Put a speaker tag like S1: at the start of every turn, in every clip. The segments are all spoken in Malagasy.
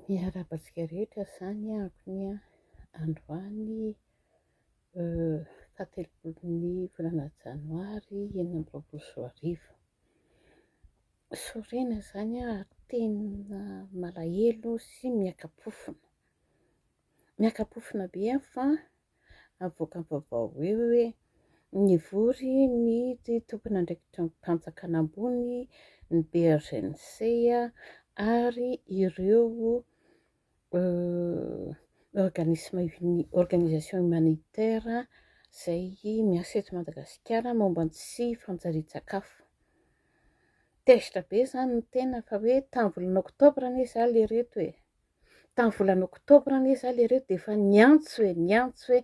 S1: Miarahaba antsika rehetra izany ampy an, androany faha telopolin'ny volana janoary enina amby roapolo sy roa arivo, sorena izany an ary tena malahelo sy miaka-pofona, miaka-pofona be aho fa avoakam-baovao hoe hoe nivory ny tompon'andraikitr'ampanjakana ambony ny BRGNC ary ireo organisme uni organisation humanitaire izay miasa eto Madagasikara momba ny tsy fanjarian-tsakafo. Tezitra be izany ny tena fa hoe tamin'ny volana oktobra anie izaho lery eto e! Tamin'ny volana oktobra anie za lereo dia efa niantso e, niantso hoe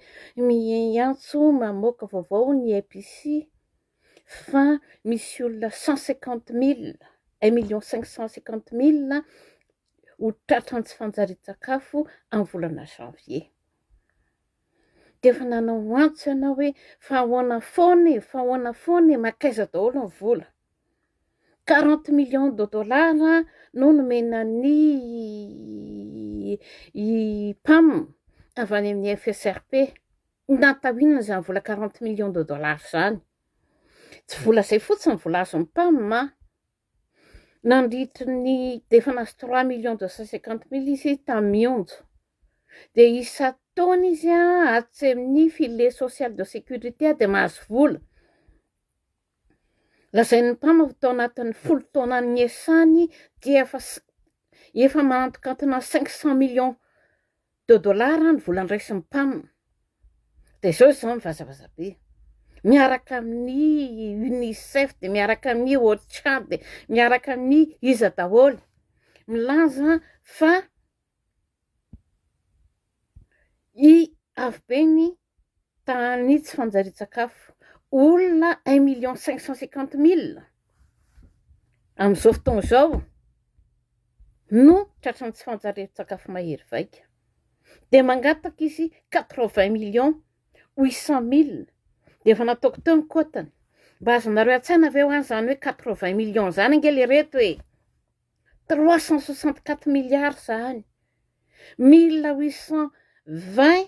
S1: miantso mamoaka vaovao ny EPC fa misy olona cent cinquante mille, un million cinq cent cinquante mille ho tratran'ny tsy fanjarian-tsakafo amin'ny volana janvier. Dia efa nanao antso ianao hoe fa ahoana foana e, fa ahoana foana e, mankaiza daholo ny vola? 40 millions de dollars no nomena ny PAM avy any amin'ny FSRP. Natao inona izany vola 40 millions de dollars izany? Tsy vola izay fotsiny vola azon'ny PAM an! Nandritry ny, dia efa nahazo 3 millions 250 mille izy tamin'ny onja. Dia isan-taona izy an, atsy amin'ny filet social de sécurité dia mahazo vola. Lazain'ny mpamafy fa tao anatin'ny folo taona niasany dia efa efa manantokantona cinq cent millions de dollars ny vola niraisin'ny mpam. Dia izao izao ny vazabaza be. Miaraka amin'ny UNICEF, dia miaraka amin'ny OCHA, dia miaraka amin'ny iza daholo. Milaza fa i avy be ny Tany tsy fanjarian-tsakafo. Olona un million cinq cent cinquante mille amin'izao fotoana izao no tratran'ny tsy fanjarian-tsakafo mahery vaika. Dia mangataka izy quatre vingt million huit cent mille dia efa nataoko teo ny kotany. Mba azonareo an-tsaina ve ho any izany hoe quatre vingt million izany ange le reto e! Trois cent soixante quatre milliards izany. Mille huit cent vingt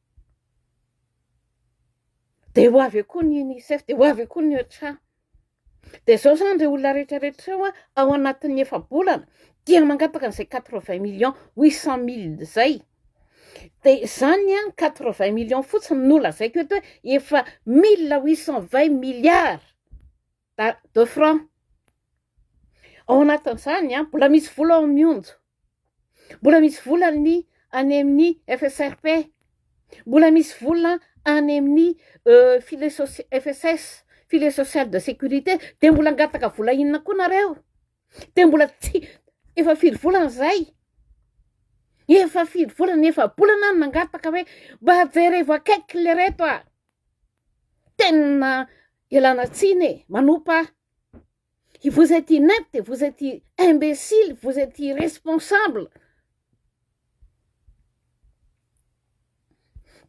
S1: Dia ho avy eo koa ny UNICEF, dia ho avy eo koa ny OCHA. Dia izao izany ireo olona rehetra rehetra ireo ao anatin'ny efa-bolana dia mangataka an'izay quatre vingt millions huit cent mille izay. Dia izany quatre vingt millions fotsiny no lazaiko eto hoe efa mille huit cent vingt milliards de francs. Ao anatin'izany mbola misy vola ao amin'ny onja. Mbola misy vola ny any amin'ny FSRP. Mbola misy vola any amin'ny euh, filet FSS, filet social de sécurité. Dia mbola angataka vola inona koa nareo? Dia mbola tsy, efa firy volana izay? Efa firy volana, efa bolana no nangataka hoe mba jerevo akaiky le reto a! Tena ialana tsiny e, manompa Vous êtes inepte, vous êtes imbecile, vous êtes irresponsable.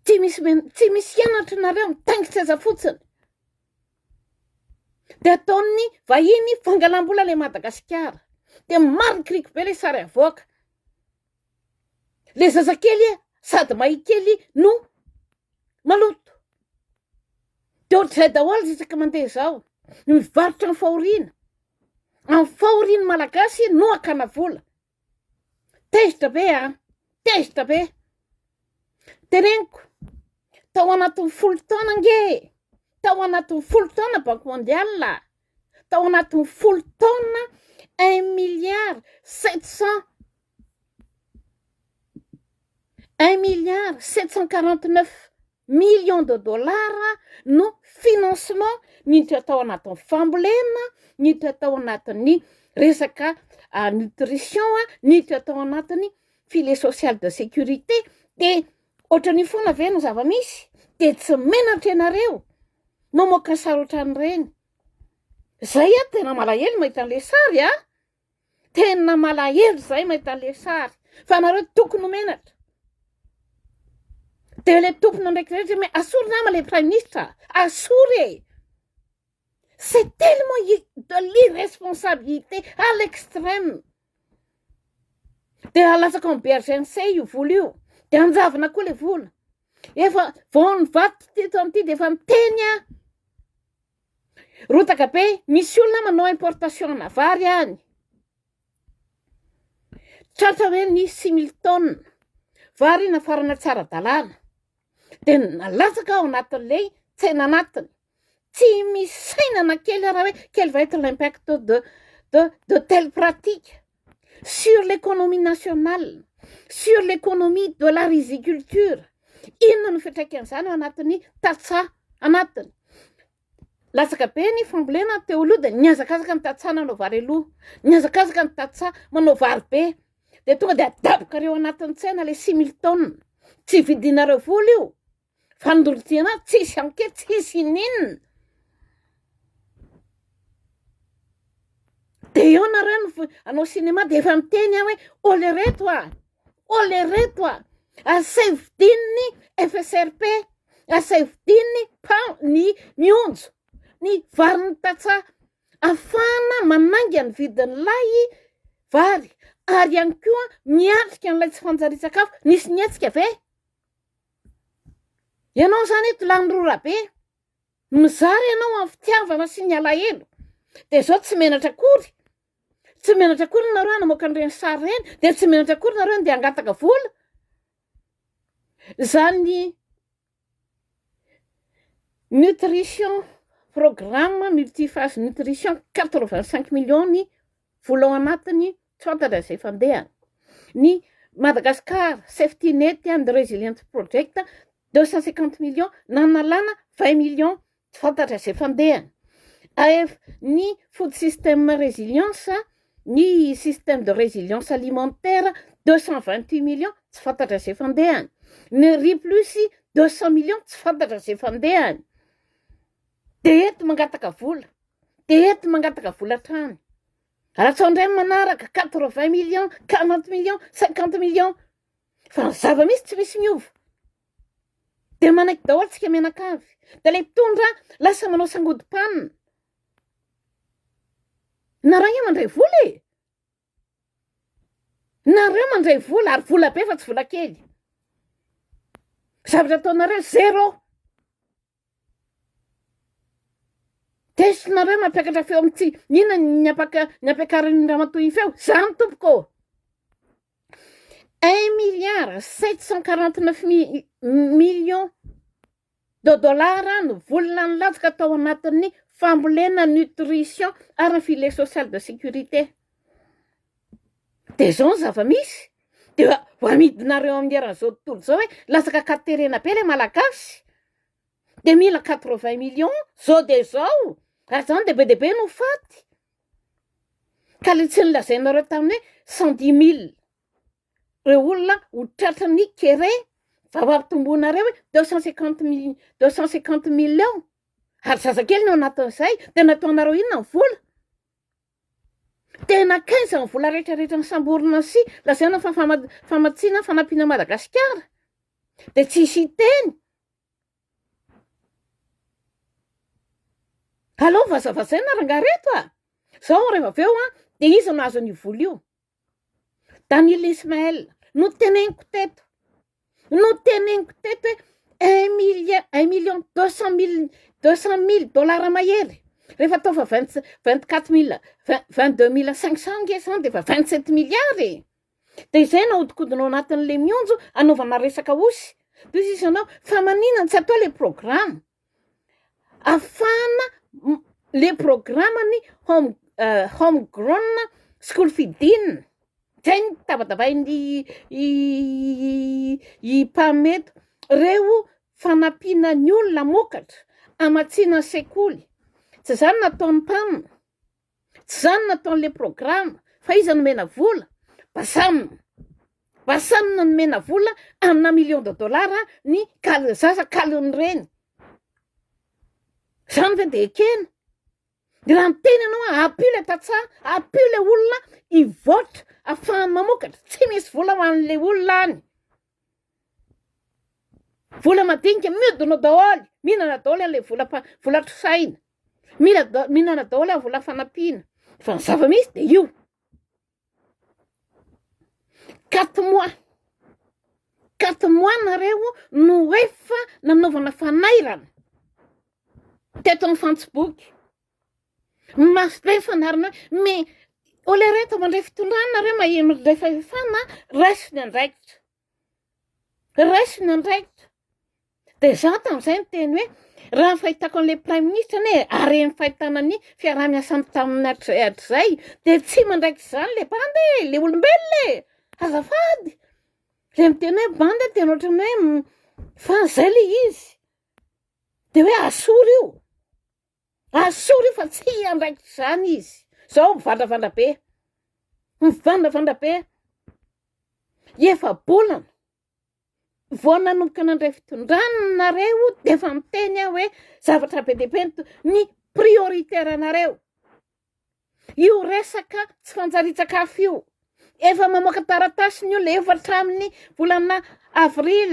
S1: Tsy misy men- tsy misy hianatra nareo mitaingitra aza fotsiny. De ataon'ny vahiny fangalam-bola le Madagasikara. De marikiriko be le sary avoaka. Le zazakely sady mahikely no maloto de ohatr'izay daholo isaka mandeha zao ny mivarotra ny fahoriana amin'ny fahorian'ny malagasy no akana vola tezitra be a tezitra be teneniko tao anatin'ny folo taona ange e tao anatin'ny folo taona banque mondiale a tao anatin'ny folo taona un milliard sept cent Un milliard sept cent quarante neuf millions de dollars no financement niditra atao anatin'ny fambolena, niditra tao anatin'ny resaka nutrition, niditra tao anatin'ny filet social de sécurité, de ohatran'io foana ve no zava-misy? De tsy menatra ianareo mamoaka sary ohatran'ireny? Zay aho tena malahelo mahita an'le sary a! Tena malahelo zay mahita le sary fa nareo toko no menatra de le tompony ndraiky rehetra me asory nama le praiminisitra asory e c'est tellement de l'irresponsabilité à l'extrême de alatsaka en brgc io vola io de anjavona koa le vola efa vao nivaky teto amty de efa miteny a Rotaka be, misy olona manao importation ana vary any, tratra hoe ny six mille tonnes vary nafarana tsy ara-dalàna, dia nalatsaka ao anatin'ilay tsena anatiny, tsy misy saina na kely ary hoe quel va être l'impact de de de telle pratique? sur l'économie nationale, sur l'économie de la riziculture, inona no fiantraikan'izany ao anatin'ny tantsaha anatiny. Latsaka be ny fambolena teo aloha dia nihazakazaka ny tantsaha nanao vary aloha, nihazakazaka ny tantsaha manao vary be, dia tonga dia adabokareo anatin'ny tsena ilay similtaona, tsy vidinareo vola io. Fandorotsiana tsisy anke tsisy ininona. De eo nareo no anao cinéma de efa miteny aho hoe ole reto a ole reto a asaivo dininy FSRP asaivo dininy pa ny mionjo ny varin'ny tatsa afahana manainga ny vidin'ny lay vary ary ihany koa miatrika an'ilay tsy fanjarian-tsakafo nisy ny hetsika ve Ianao izany eto Lanirolabe, mizara ianao amin'ny fitiavana sy ny alahelo, dia izao tsy menatra akory, tsy menatra akory nareo hanamoaka an'ireny sary ireny, dia tsy menatra akory nareo handeha hangataka vola, izany nutrition, programme multi-phase nutrition quatre vingt cinq millions ny vola ao anatiny tsy fantatra izay fandehany, ny Madagascar Safety Net and Resilience Project deux cent cinquante millions nanalana vingt millions tsy fantatra izay fandehany, AF, ny Food System Resilience, ny Système de Resilience Alimentaire deux cent vingt huit millions tsy fantatra izay fandehany, ny Riplus deux cent millions tsy fantatra izay fandehany, dia eto mangataka vola, dia eto mangataka vola hatrany. Atsao indray ny manaraka quatre vingt million quarante million cinquante million fa ny zava misy tsy misy miova de manaiky daholo tsika mianakavy de le mpitondra lasa manao sangodim-panina nareo mandray vola e nareo mandray vola ary vola be fa tsy vola kely zavatra ataonareo zero Test-nareo mampiakatra feo am tsy inona ny ampaka ny ampiakarin'ny ramatoa i feo zany tompoko ô un milliard sept cent quarante neuf mi- millions de dollars no volona nilatsaka tao anatin'ny fambolena nutrition ary ny filet social de sécurité Dia izao ny zava-misy, dia ho amidinareo amin'ny eran'izao tontolo izao hoe latsaka ka terena be ilay Malagasy, dia mila quatre vingt millions izao dia izao, ary izany dia be dia be no faty, ka ilay tsy nolazainareo tamin'ny hoe cent dix mille ireo olona ho tratran'ny kere vao hampitomboinareo hoe deux cent cinquante mil- deux cent cinquante millions, ary zazakely no anatin'izay, dia nataonareo inona ny vola? Tena kaiza ny vola rehetra rehetra nisamborina sy lazaina fa famatsiana fanampiana Madagasikara dia tsisy hiteny. Aleo vazavazaina rangaha reto a! Zao rehefa avy eo a, dia iza no hahazo an'io vola io? Daniel Ismaël, noteneniko teto, noteneniko teto hoe un million, un million deux cent mille, deux cent mille dollars mahery, rehefa atao fa vingt, vingt quatre mille, vingt, vingt deux mille cinq cent ange zany dia efa vingt sept milliards e! dia izay no ahodikodina ao anatin'ilay mionjo anaovana resaka osy, dia hoy sisa ianao, fa maninona tsy atao ilay programme? afahana le programany home home grown school fidin zay no tabatavain'ny i Pam eto, reo fanampiana ny olona hamokatra, hamatsiana sekoly, tsy zany nataon'i Pam. Tsy izany no ataon'ilay programa fa iza nomena vola? Basam. Basam no nomena vola amina million de dollars ny kal- zaza kalon'ny reny. Izany ve dia ekena? Dia raha miteny ianao hoe ampio ilay tantsaha, ampio ilay olona hivoatra afahany mamokatra, tsy misy vola ho an'ilay olona any. Vola madinika miodina daholo, mihinana daholo an'ilay vola mpa- vola atrosahina, mila da- mihinana daholo amin'ny vola fanampiana fa ny zava-misy dia io. Quatre mois, quatre mois nareo no efa nanaovana fanairana teto amin'ny fantsiboky, Mafy be ny fandaharana hoe me olereta mandray fitondrana nareo maheno ilay fahefana raiso ny andraikitra raiso ny andraikitra de za tamin'izay ny teny hoe raha ny fahitako an'ilay praiminisitra anie are ny fahitana ny fiaraha-miasany taminy hatrizay hatrizay de tsy mandraikitra izany le bandy e le olombelona e azafady le miteny hoe bandy tena ohatran'ny hoe fa zay le izy de hoe asoro io Asore io fa tsy hiandraikitra izany izy. Izao mivandravandra be. Mivandravandra be. Efa-bolana vao nanomboka nandray fitondrana nareo dia efa miteny aho hoe zavatra be dia be ny prioritaire anareo. Io resaka tsy fanjarian-tsakafo io, efa mamoaka taratasy ny olona, efa hatramin'ny volana avril,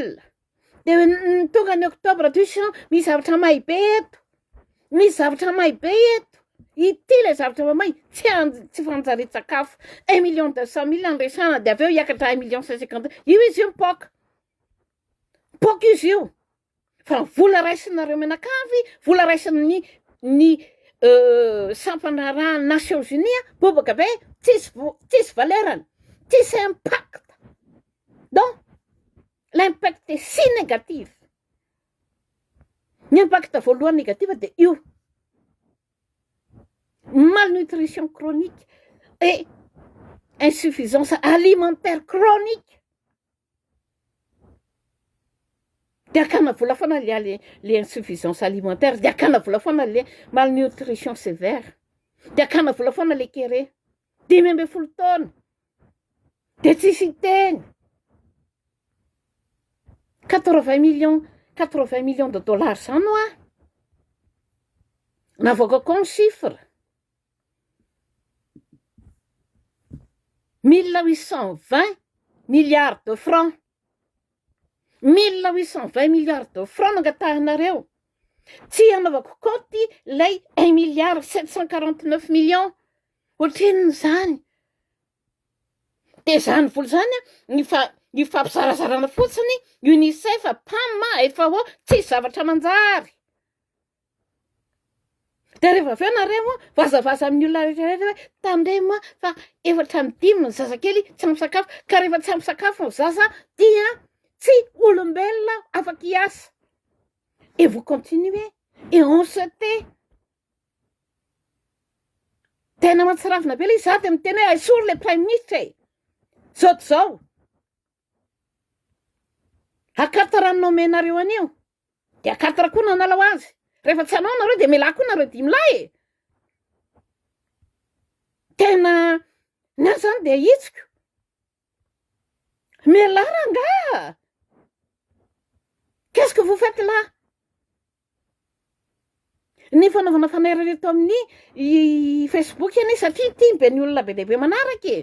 S1: dia ny tonga ny octobre toy izao, misy zavatra may be eto, misy zavatra may be eto, ity ilay zavatra may, tsy an- tsy fanjarian-tsakafo, un million deux cent mille no resahana dia avy eo hiakatra un million cent cinquante mille, io izy io mipoaka, mipoaka izy io. fa vola raisinareo mianakavy, vola raisin'ny ny sampana raha Nations Unies bobaka be tsisy tsisy valerany, tsisy impact donc l'impact est si négatif, ny impact voalohany négatif de io malnutrition chronique et insuffisance alimentaire chronique. Dia akana vola foana le ale le insuffisance alimentaire, dia akana vola foana le malnutrition sévère, dia akana vola foana le kere, dimy ambin'ny folo taona dia tsisy hiteny, quatre vingt millions quatre vingt millions de dollars zany hoa navoakako ny chiffre. Mille huit cent vingt milliards de francs, mille huit cent vingt milliards de francs no angatahanareo, tsy hanaovako kaonty ilay un milliard sept cent quarante neuf millions, ohatrinona izany? Dia izany vola izany an, io fa- io fampizarazarana fotsiny, UNICEF, PAM, FAO, tsisy zavatra manjary. Dia rehefa avy eo nareo a, vazavaza amin'ny olona rehetra rehetra hoe tandremo a fa efatra amby dimy ny zazakely tsy ampy sakafo, ka rehefa tsy ampy sakafo ny zaza dia tsy olombelona afaka hiasa. Et vous continuez et on se tait. Tena mahatsiravina be le izy, za dia miteny hoe aisory le praiminisitra e, zao to zao. Akatra raha ny nomenareo anio de akatra koa nanala ho azy rehefa tsy anao nareo de melà koa nareo dimy lahy e tena ny ahy zany de ahitsiko melà rangah qu'est ce que vous faites là Ny fanaovana fanairy eto amin'ny Facebook anie satria tiany be ny olona be dia be manaraka e!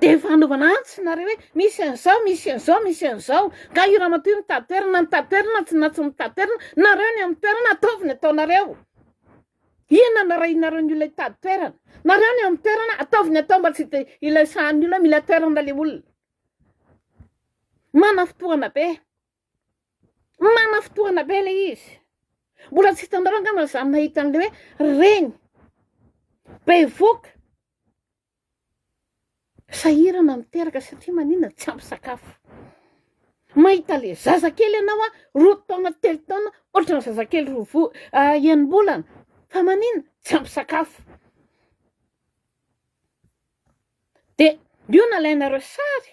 S1: Dia efa anaovana antsy nareo hoe misy an'izao, misy an'izao, misy an'izao. Ka io ramatoa io mitady toerana, mitady toerana, tsy na tsy mitady toerana, nareo ny amin'ny toerana ataovy ny ataonareo. Inona no arahinareo ny olona hitady toerana? Nareo ny amin'ny toerana ataovy ny atao mba tsy te- ilay sahan'ny olona mila toerana ilay olona. Manam-fotoana be. Mana fotoana be le izy. Mbola tsy hitanareo angamba za nahita an'le hoe reny bevoka sahirana miteraka satria maninona tsy ampy sakafo. Mahita le zazakely ianao an, roa taona telo taona ohatran'ny zazakely roa vo- enim-bolana fa maninona tsy ampy sakafo. De io nalainareo sary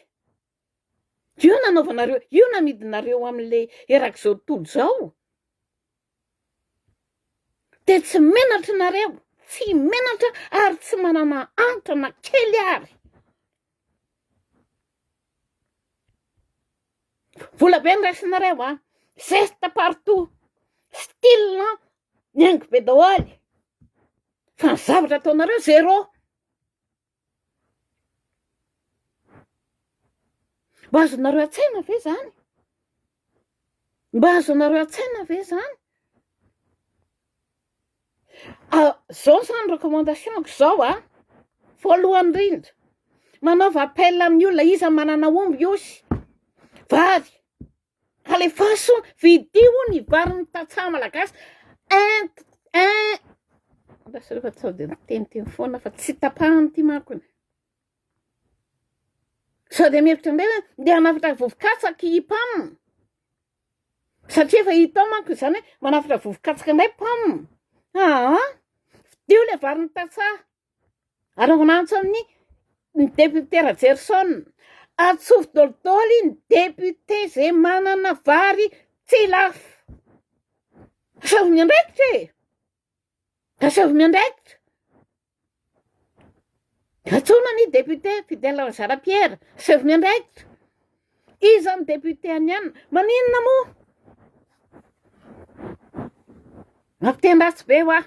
S1: Io no anaovanareo, io no amidinareo amin'ilay erak'izao tontolo izao. Dia tsy menatra nareo, tsy menatra ary tsy manana antra na kely ary. Vola be no raisinareo a, zesta partout, style mihaingo be daholo fa ny zavatra ataonareo zéro. Mba azonareo an-tsaina ve zany? Mba azonareo an-tsaina ve zany? Ah, zao zany recommandation-ko zao an, voalohany indrindra, manaova appel amin'ny olona, iza manana omby osy, vary, Talefaso vidio ny varin'ny tantsaha malagasy ent en andraso rehefa sao dia miteniteny foana fa tsy tapahany ity manko ny sao dia mihevitra indray hoe ndeha hanafatra vovokatsaka i pam satria efa hitao manko izany hoe manafatra vovokatsaka indray pam aa vidio ilay varin'ny tantsaha Ary ho nantso amin'ny ny député Rajerison, atsofo dolidoly ny député ze manana vary tsy lafo. Aseho miandraikitra e! Aseho miandraikitra! Antsoina ny député Fidèle Nzara Pierre, aseho miandraikitra! Iza ny député aniana? Maninona moa? Mampiteny ratsy be hoa,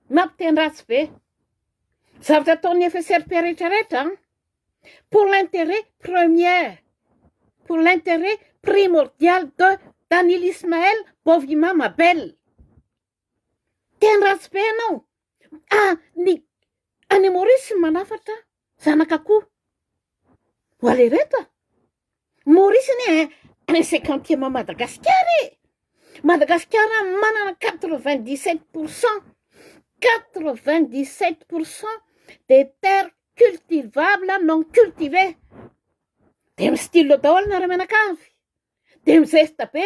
S1: mampiteny ratsy be. Zavatra ataon'ny FSRP rehetra rehetra an. Pour l'intérêt premier, pour l'intérêt primordial de Daniel Ismaël Bovima Mabel. Teny ratsy be ianao. Ah, ny any Maurice ny manafatra zanak'akoho. Ho alereto a! Maurice anie eh, un cinquantième Madagasikara e! Madagasikara manana quatre vingt dix sept pour cent, quatre vingt dix sept pour cent des terres cultivables non cultivées. Dia mi-stylo daholo ny ara-mianakavy. Dia mi-zesta be.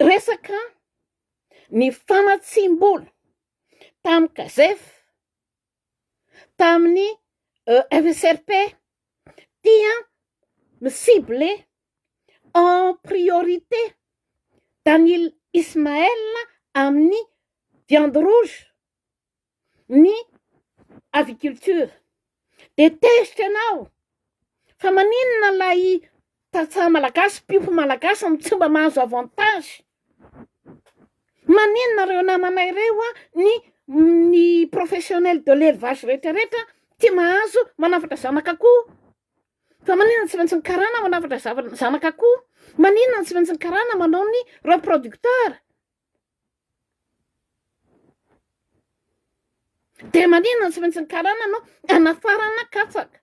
S1: Resaka ny famatsiam-bola tamin'ny Gazef, tamin'ny FSRP dia mi-cibler en priorité Daniel Ismaël amin'ny viande rouge ny aviculture de tezitra ianao fa maninona ilay tantsaha malagasy mpiompy malagasy no tsy mba mahazo avantage maninona ireo namanay ireo a ny ny professionnel de l'elevage retraretra tsy mahazo manafatra zanaka akoho fa maninona tsy maintsy ny karana manafatra zava- zanaka akoho maninona tsy maintsy ny karana manao ny reproducteur Dia maninona no tsy maintsy ny karana no hanafarana katsaka?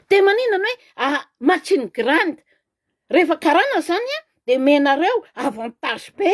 S1: Dia maninona ny hoe machine grande? Rehefa karana izany dia omenareo avantage be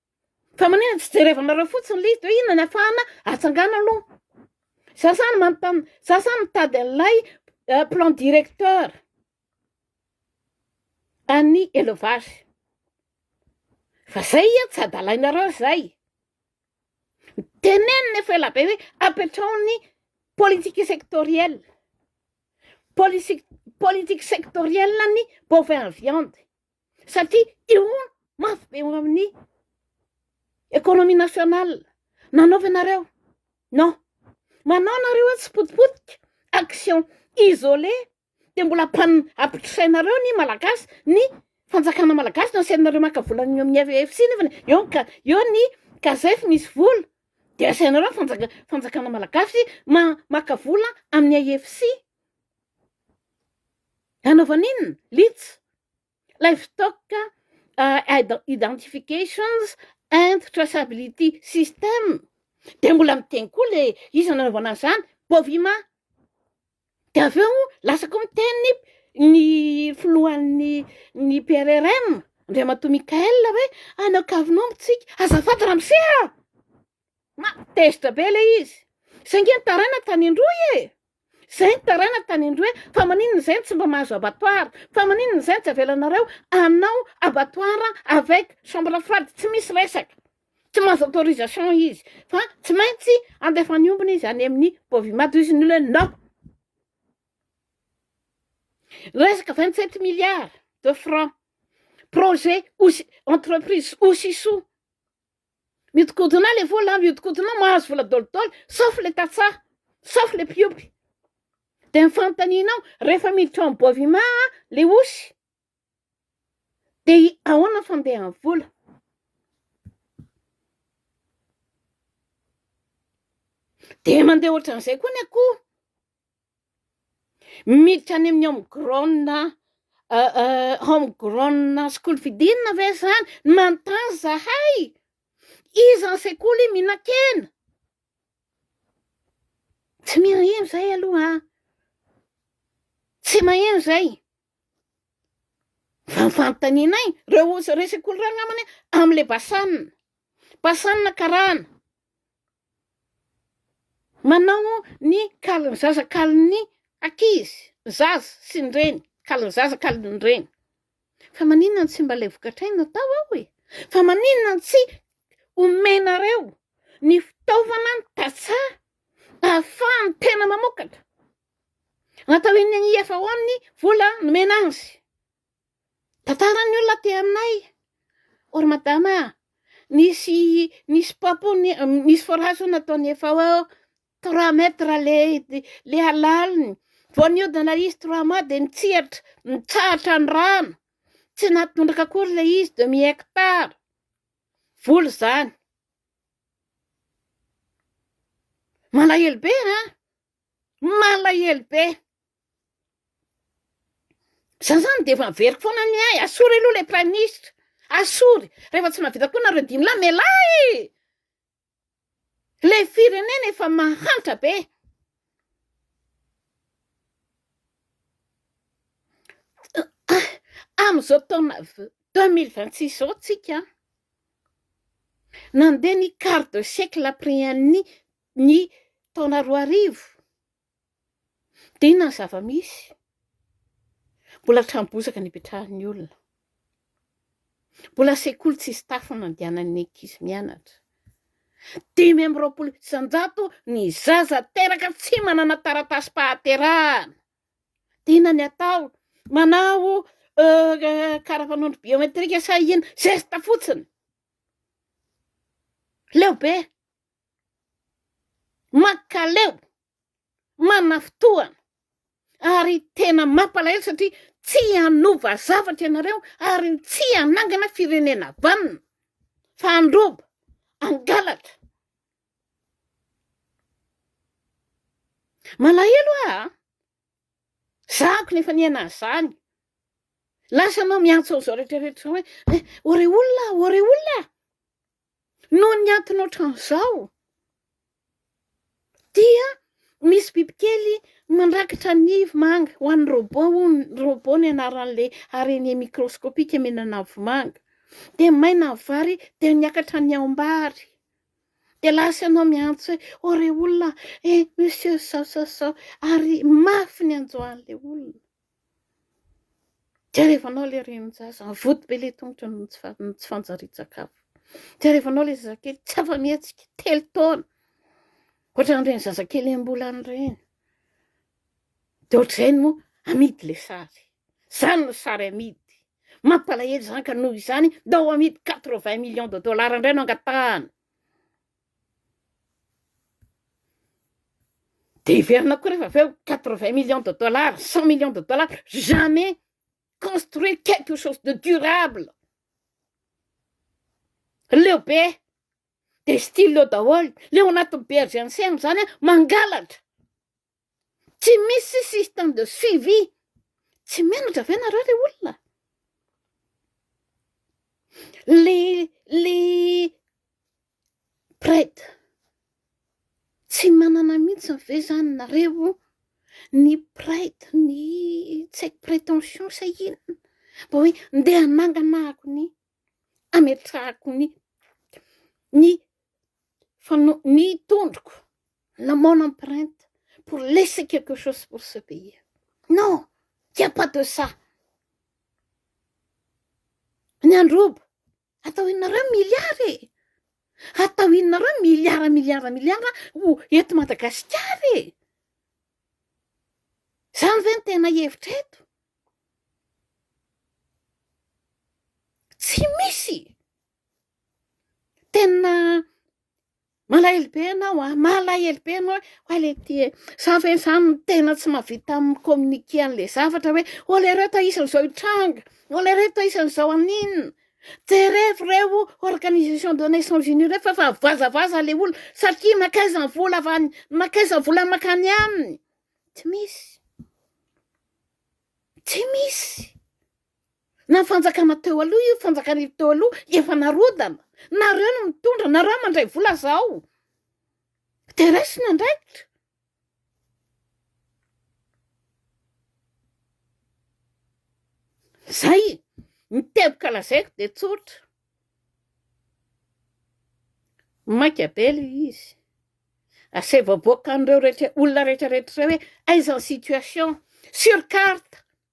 S1: Fa maninona tsy jerevanareo fotsiny list hoe inona ny afahana atsangana aloha. Za zany manontany, za zany mitady an'ilay euh, plan directeur an'ny élevage. Fa zay ia tsy adalainareo zay. Tenenina efa ela be hoe apetraho ny politique sectorielle. Politique politique sectorielle ny bovin viande. satria eo mafy be eo amin'ny économie nationale nanaovanareo non manao nareo hoe tsy potipotika action isolé de mbola pan apitrainareo ny malagasy ny fanjakana malagasy no asainareo maka vola ny amin'ny AVFC nefany eo ny ka- eo ny kazef misy vola de asainareo ny fanjaka- fanjakana malagasy ma- maka vola amin'ny AFC Hanaovana inona? Lits, Livestock Identifications and Traceability System, dia mbola miteny koa ilay izy nanaovana an'izany, Bovima. Dia avy eo lasa koa miteny ny filohan'ny ny PRRM, Andriamatoa Michael hoe, any Ankavonao amintsika, azafady ramose a! Ma tezitra be le izy. Zay nge ny taranaka tany Androy e! Zay ny taranaka tany Androy e! Fa maninona zay no tsy mba mahazo abattoir? Fa maninona zay no tsy avelanareo hanao abattoir avec chambre froide? Tsy misy resaka. Tsy mahazo autorisation izy. Fa tsy maintsy andefa ny ombiny izy any amin'ny Bovimady. Hoy izy ny olona hoe non. Resaka 27 milliards de francs. Projet Osi- entreprise Osiso. Mihodinkodina le vola, mihodinkodina mahazo vola dolidoly, sauf le tantsaha, sauf le mpiompy. Dia ny fanontanianao, rehefa miditra ao amin'ny boivima le osy, dia ahoana ny fandehan'ny vola? Dia mandeha ohatran'izay koa ny akoho. Miditra any amin'ny home grown home grown school fidinina ve zany? Manontany zahay, iza ny sekoly mihinan-kena? Tsy mirindra zay aloha an! Tsy maheno zay, fa ny fanontanianay reo sekoly reo angambany amin'le BASAN, BASAN karana. Manao ny kalin'ny zaza kalin'ny ankizy, ny zaza sy ny reny, kalin'ny zaza kalin'ny reny. Fa maninona no tsy mba ilay vokatray no atao ao e? Fa maninona no tsy omenareo ny fitaovana, ny tantsaha ahafahan'ny tena mamokatra? Atao eny amin'ny IFAO ny vola nomena azy. Tantaran'ny olona aty aminay, O ry madama a, nisy nisy papo nisy forage hono nataon'ny FAO, trois mètres le le halaliny, vao nihodina ilay izy trois mois dia nitsihatra, nitsahatra ny rano, tsy nahatondraka akory ilay izy demi hectare, vola izany. Malahelo be a, malahelo be. Za zany de efa averiko foana ny ahy, asory aloha le prime ministre, asory, rehefa tsy mahavita koa nareo dimy lahy mialà e, le firenena efa mahantra be, am'izao taona deux mille vingt six zao tsika nandeha ny quart de siècle après an'ny ny taona roa arivo. Tena zava-misy, mbola trano bozaka nipetrahan'ny olona, mbola sekoly tsisy tafo nandehanan'ny ankizy mianatra, dimy amby roapolo isan-jato ny zaza teraka tsy manana taratasim-pahaterahana, tena ny atao manao karapanondro biometrika sa inona, zesta fotsiny, leo be mankaleo, manafitohana ary tena mampalahelo satria tsy hanova zavatra ianareo ary tsy hanangana firenena vanona fa handroba, hangalatra. Malahelo aho a! Za kony efa niaina an'izany, lasa anao miantso an'izao rehetra rehetra izao hoe eh! ô re olona a! ô re olona a! Noho ny antony ohatran'izao dia misy bibikely mandrakitra ny vomanga, ho an'ny robot hono, robot ny anaran'ilay araignée microscopique mihinana vomanga, dia maina ny vary dia miakatra ny aom-bary, dia lasa ianao miantso hoe ô re olona e, monsieur sao sao sao, ary mafy ny hanjo an'ilay olona. Tiarevanao ilay renin-jaza, avoty be ilay tongotro noho ny tsy fanjarian-tsakafo. Tiarevanao ilay zazakely tsy afa-mihetsika, telo taona, ohatran'ireny zazakely iem-bolana ireny. Dia ohatr'izay no amidy ilay sary. Izany no sary amidy. Mampalahelo izany ka noho izany, ndao amidy quatre-vingts millions de dollars indray no angatahana. Dia hiverina koa rehefa avy eo quatre vingt millions de dollars, cent millions de dollars, jamais construire quelque chose de durable. Leo be, dia style eo daholo, leo anatin'ny bergers enceinte izany an, mangalatra. tsy misy système de suivi, tsy menatra ve nareo re olona? le le prête tsy manana mihitsy ve zany nareo ny prête ny tsy haiko prétention sa inona mba hoe ndeha hanangana ako ny ametrahako ny ny fa no ny tondroko na mon empreinte pour laisser quelque chose pour ce pays non il n'y a pas de ça ny androba atao inareo milliard e atao inareo milliard milliard milliard ho eto madagasikara e zany ve ny tena hevitra eto tsy misy Tena malahelo be ianao an, malahelo be ianao ho'a le ty e, za ve zany no tena tsy mahavita mi-communiquer an'le zavatra hoe olereo toa isan'izao hitranga, olereo toa isan'izao haninona, jerevo reo organisation des nations unies reo fa efa avazavaza le olona satria nankaiza ny vola avy any, nankaiza ny vola mankany aminy, tsy misy, tsy misy. Na fanjakana teo aloha io fanjakana teo aloha efa narodana. Nareo no mitondra, nareo mandray vola zao. De raisina andraikitra. Zay ny teboka lazaiko de tsotra. Maika be le izy. Asaivo aboakan'ireo rehetra olona rehetra rehetra hoe aiza ny situation sur carte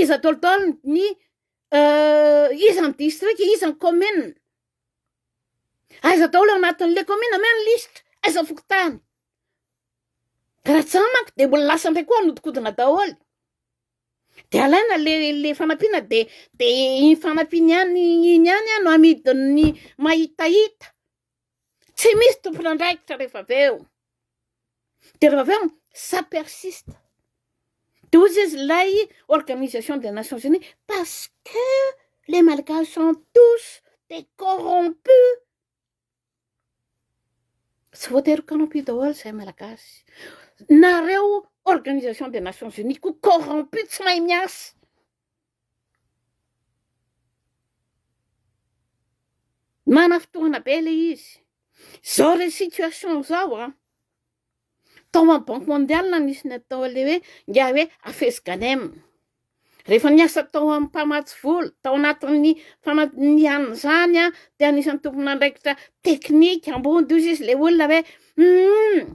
S1: Iza taoltaoly ny iza ny distrika, iza ny commune. Aiza daholo ao anatin'le commune ameo ny lisitra, aiza ny fokontany. Ka raha tsy zany manko de mbola lasa ndray koa hanodikodina daholo. De alaina le le fanampiana de de iny fanampiana ihany iny ihany no amidin'ny mahitahita. Tsy misy tompon'andraikitra rehefa avy eo. Dia rehefa avy eo, ça persiste. Dia hoy izy, ilay Organisation des Nations Unies, parce que les Malgaches sont tous des corrompus. Tsy voatery ho corrompus daholo izay Malagasy. Nareo Organisation des Nations Unies koa corrompus, tsy mahay miasa. Mana fotoana be le izy. Zao re situation zao an. Tao amin'ny banque mondiale nisy ny atao le hoe ingahy hoe afes ganem. Rehefa niasa tao amin'ny mpamatsy vola, tao anatin'ny fanadinihana izany an, dia anisan'ny tomponandraikitra teknika ambony hozy izy le olona hoe humm.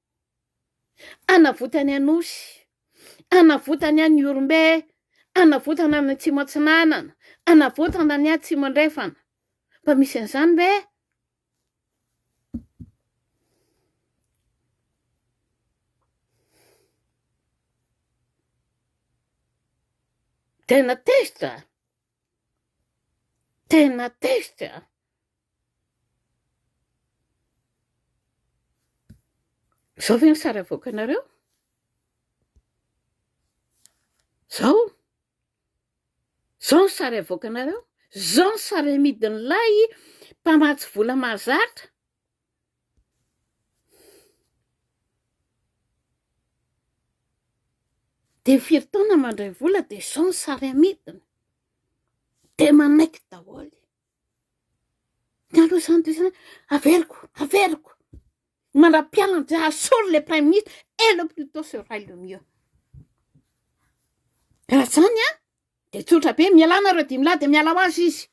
S1: Anavotany Anosy, anavotany any Ihorombe, anavotana any Atsimo Atsinanana, anavotana any Atsimo Andrefana. Mba misy an'izany ve? Tena tezitra. Tena tefy a! Zao ve ny sary avoakanareo? Zao? Zao ny sary avoakanareo? Zao ny sary amidin'ilay mpamatsy vola mahazatra? Dia firy taona mandray vola dia izao ny sary amidiny. Dia manaiky daholo. Ny anao izany dia izany, averiko, averiko. Manam-pialana dia asolo ilay Prime Ministre, et le plus tôt sera le mieux. Raha izany an, dia tsotra be, mialà nareo dimy lahy dia miala ho azy izy.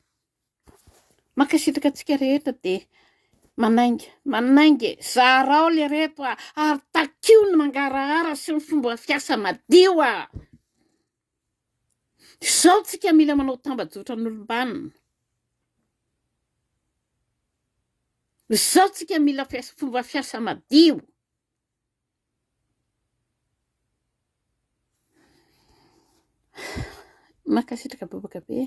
S1: Mankasitraka antsika rehetra dia manainga manainga e zarao le reto a ary takio ny mangarahara sy ny fomba fiasa madio a izao tsika mila manao tambajotra n'olombanina izao tsika mila fomba fiasa madio Mankasitraka bobaka be e.